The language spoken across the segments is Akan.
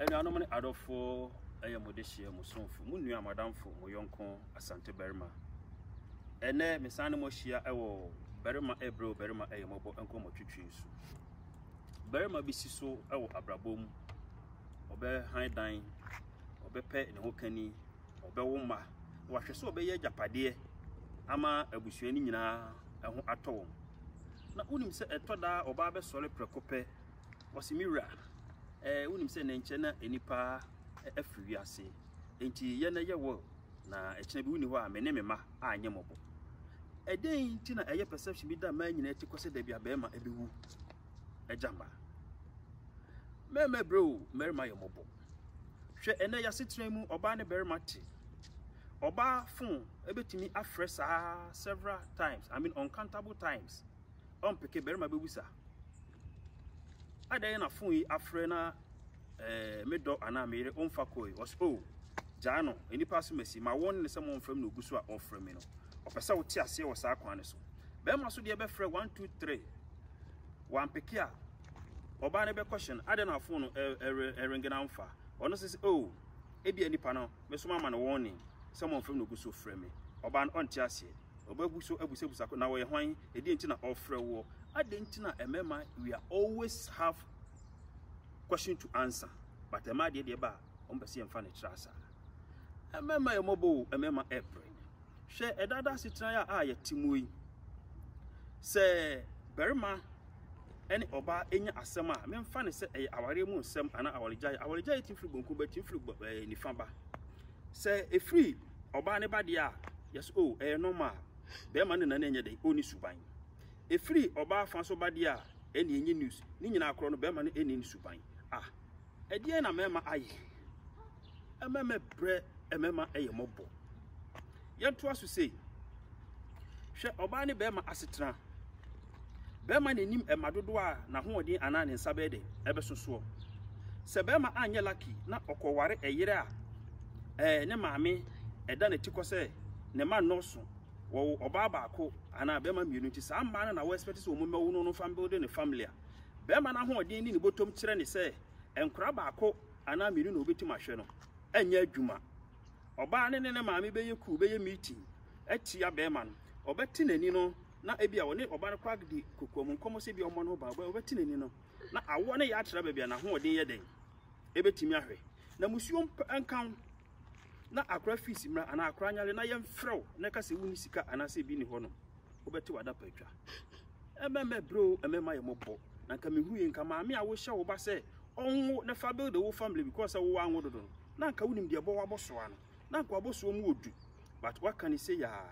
Anuanom ne adɔfo yɛ mo dehyeɛ, mo somfo, mo nua, mo adamfo, mo yɔnko Asante barima. Ɛnɛ, mesan ne mo ahyia wɔ barima ɛbrɛ o barima ɛyɛ mɔbɔ nkɔmmɔtwetwe so. Barima bi si so wɔ abrabɔ mu, ɔbɛhan dan, ɔbɛpɛ ne ho kani, ɔbɛwo mma, na wahwɛ sɛ ɔbɛyɛ agyapadeɛ ama abusua no nyinaa ho atɔ wɔn. Na wonim sɛ ɛtɔ daa ɔbaa bɛsɔre prɛko pɛ Ɔse, Me wura, eh, wonim sɛ nnɛ nkyɛ na nnipa afiri wiase, enti yɛ na yɛ will, na ɛkyena bi wonni hɔ a me ne me mma anyɛ mmɔbɔ. Ɛdɛn nti na ɛyɛ perception bi da mmaa nyinaa ti kɔ sɛ dabi a bɛrima ɛbɛwu agya mma? Mmarima brɛ o, mmarima yɛ mmɔbɔ. Hwɛ ɛnɛ yɛasetena mu, ɔbaa ne barima te. Ɔbaa phone ɛbɛtumi afrɛ saa several times, I mean uncountable times. Ɔmpeke, barima bɛwu saa. Adɛn na fon yi afrɛ na eh, me dɔ anaa me yere ɔmfa kɔe? Ɔs o, oh, gyaa no, nnipa asomasi ma wɔn ne sɛ mɔmfrɛ me na ogu so a ɔfrɛ me no. Ɔpɛ sɛ wote aseɛ wɔ saa kwan no so. Bɛrima so deɛ bɛfrɛ one two three, wampeke a ɔbaa no bɛkɔhyɛ no, adɛn na fon no ɛrenge na amfa? Ɔno sɛ sɛ o, oh, ebia nipa no mɛsoma ma no wɔɔne sɛ mommfrɛ no ɔgu so frɛ me ɔbaa no ɔnte aseɛ ɔbɛgu so abusabisa ko na ɔyɛ hwan ɛdeɛ nti na ɔfrɛ woɔ adɛn nti na ɛmɛma we are always have question to answer but ɛma adeɛ deɛ ba a wɔn pɛ sɛ yɛmfa no kyerɛ asaa ɛmɛma yɛ mɔbɔ o ɛmɛma ɛbrɛ Hwɛ ɛda da asetena yi a yɛte mu yi. Sɛ barima ne ɔbaa nya asɛm a, memfa ne sɛ ɛyɛ awareɛ mu nsɛm anaa awaregyaeɛ. Awaregyaeɛ tumi firi bonkum ba, tumi firi eh, nifa ba. Sɛ ɛfiri ɔbaa ne ba deɛ a, yɛsɛ o oh, ɛyɛ normal. Barima ne nane ɛnyɛ dɛ, ɔni suban. Ɛfiri ɔbaa fa so ba deɛ a, ɛne ɛnyɛ news. Ne nyinaa korɔ no, barima no ɛni ne suban. Ah, Ɛdeɛn na mɛma ayɛ? Ɛmɛ mɛbrɛ ɛmɛma ɛyɛ mɔbɔ. Yɛntoa so sei. Hwɛ ɔbaa ne bɛrima asetena. Bɛrima na anim ɛma dodoɔ a n'ahoɔden anaa ne nsa bɛyɛ dɛ ɛbɛso soɔ. Sɛ bɛrima anyɛ laki na ɔkɔware ɛyere a ɛɛ ne maame ɛda n'ati kɔ sɛ ne ma nnɔɔso wɔwo ɔbaa baako anaa bɛrima mmienu nti saa mmaa no na wɔɛspɛte sɛ wɔn mɛwo no no fa mbɛwode ne family a Barima no ahoɔden ne ne bɔtɔm kyerɛ ne sɛ nkora baako anaa mmienu na ɔbɛtumi ahwɛ no anyɛ adwuma. Ɔbaa no ne ne maame bɛyɛ kuw, bɛyɛ meeting atia barima no. Ɔbɛte n'ani no na ebi a ɔne ɔba no kɔ adi kokoam nkɔmmɔ sɛ ebi a ɔmmɔ ne ho ban. Ɔbɛte n'ani no na awoɔ no yɛ akyerɛ baabi a n'ahoɔden yɛ dɛn ɛbɛtumi ahwɛ. Na musuo nka ho na akora fees mmra anaa akora anyare na yɛmfrɛ wo na ɛka sɛ wonni sika anaasɛ ebi nni hɔ no. wobɛte w'adapa atwa. Ɛmɛmɛ bro, ɛmɛma yɛ mɔbɔ. Na nka mehuru yɛ nka maame a wohyɛ wo ba sɛ ɔnwo na fa build wo family because sɛ wo anwo dodo no. Na nka wonim deɛ ɛbɔ w'abɔsoa no. Na nka w'abɔsoa mu odu. But waka ne sɛ yaa.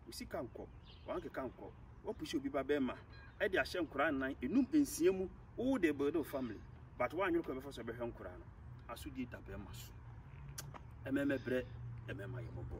Wo sika nkɔ. Wankeka nkɔ. Wapushi obi ba bɛrima ɛde ahyɛ nkoraa nnan, enum, nsia mu. Wo de build wo family. But woanwene kɔ ɛbɛfa so ɛbɛhwɛ nkoraa no. Asodie da bɛrima so. Ɛmɛmɛ brɛ, ɛmɛma yɛ mɔbɔ.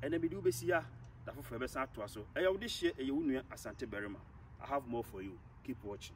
Ɛnɛ mede wobɛsi ha. da foforɔ yɛbɛsan atoa so ɛyɛ wo dehyeɛ ɛyɛ wo nua Asante barima I have more for you keep watching.